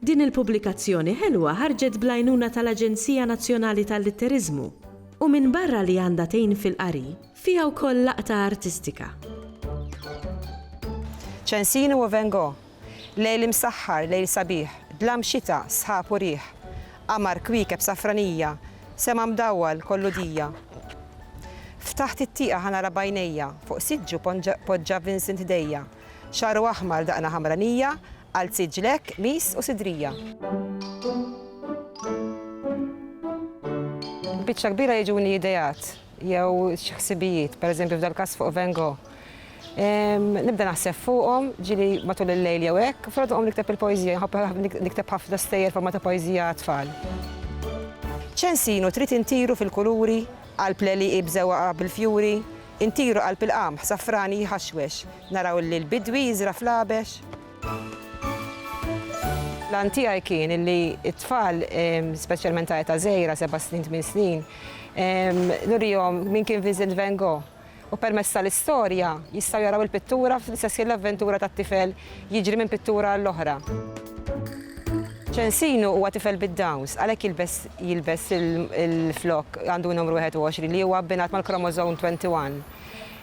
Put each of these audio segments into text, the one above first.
Din il-pubblikazzjoni ħelwa ħarġet bl-għajnuna tal-Aġenzija Nazzjonali tal-Litteriżmu u minbarra li għandha tgħin fil-qari, fiha wkoll laqta artistika. Ċensini u Van Gogh, Lejl imsaħħar, lejl sabiħ, dlam xita, sħab u riħ, Qamar, kwiekeb, safranija, sema mdawwal, kollu dija. Ftaħt it-tieqa ħa nara b'għajnejja, fuq siġġu poġġa Vincent idejja. Xagħru aħmar, daqna ħamranija, qalziet ġlekk, qmis u sidrija. Biċċa kbira jiġuni ideat jew xi ħsibijiet, pereżempju f'dal-każ fuq Van Gogh. Nibda naħseb fuqhom, ġili matul il-lejl jew hekk, fil qom nikteb il-poeżija, nħobb nikteb ħafna stejjer forma ta' poeżija għat-tfal. Ċensinu trid intiru fil-kuluri, qalb l-għelieqi b'żewgħa bil-fjuri, Intiru qalb il-qamħ safrani jħaxwex, naraw li l-bidwi jiżra' fl-għabex. L-għan tiegħi kien li t-tfal, speċjalment ta' età żgħira, seba' snin, tmien snin, nurihom min kien Vincent Van Gogh u permezz tal-istorja jistgħu jaraw il-pittura fl-istess ħin l-avventura tat-tifel Jiġri minn pittura għall-oħra. Ċensinu huwa tifel bid-Downs, għalhekk jilbes jilbes il-flokk għandu n-numru 21 li huwa abbinat mal-kromożom 21.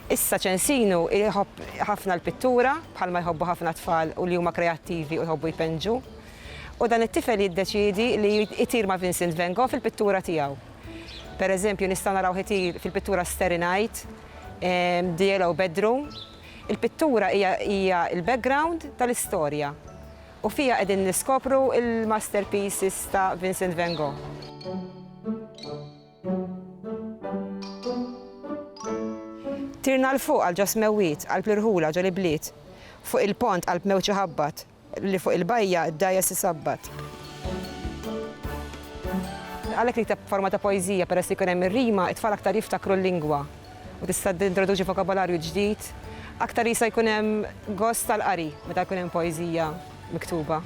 Issa Ċensinu jħobb ħafna l-pittura, bħalma jħobbu ħafna tfal u li huma kreattivi u jħobbu jpenġu. U dan it-tifel jiddeċiedi li jtir ma' Vincent Van Gogh fil-pittura tiegħu. Pereżempju, nistgħu narawh itir fil-pittura Starry Night, ehm, The Yellow Bedroom, Il-pittura hija hija l-background tal-istorja u fiha qegħdin niskopru l-masterpieces ta' Vincent Van Gogh. Tirna 'l fuq għal ġo smewwiet, qalb l-irħula ġo l-ibliet, fuq il-pont qalb mewġ iħabbat. Li fuq il-bajja d-dgħajjes isabbat. Għalhekk nikteb b'forma ta' poeżija peress li jkun hemm ir-rima, it-tfal aktar jiftakru l-lingwa u tista' tintroduċi vokabolarju ġdid. Aktar jista' jkun hemm gost tal-qari meta jkun hemm poeżija miktuba.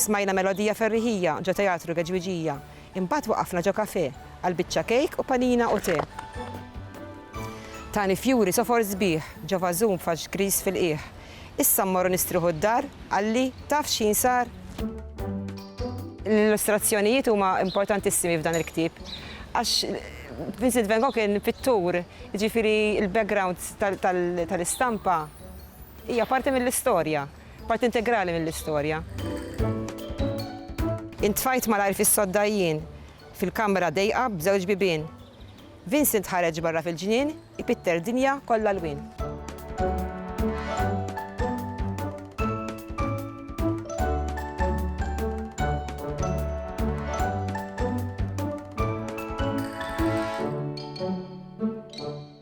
Smajna melodija ferriħija ġo Teatru Geġwiġija, Imbagħad waqafna ġo kafè għal biċċa kejk u panina u te. Tani fjuri sofor sbieħ ġo vażun b'faxx griż fil-qiegħ. Issa mmorru nistrieħu d-dar, qalli, taf x'ħin sar? L-illustrazzjonijiet huma importantissimi f'dan il-ktieb għax Vincent Van Gogh kien pittur, jiġifieri l-background tal-istampa hija parti mill-istorja. Parti integrali mill-istorja. Intfajt malajr fis-sodda jien, fil-kamra dejqa b'żewġ bibien. Vincent ħareġ barra fil-ġnien, ipitter dinja kollha lwien.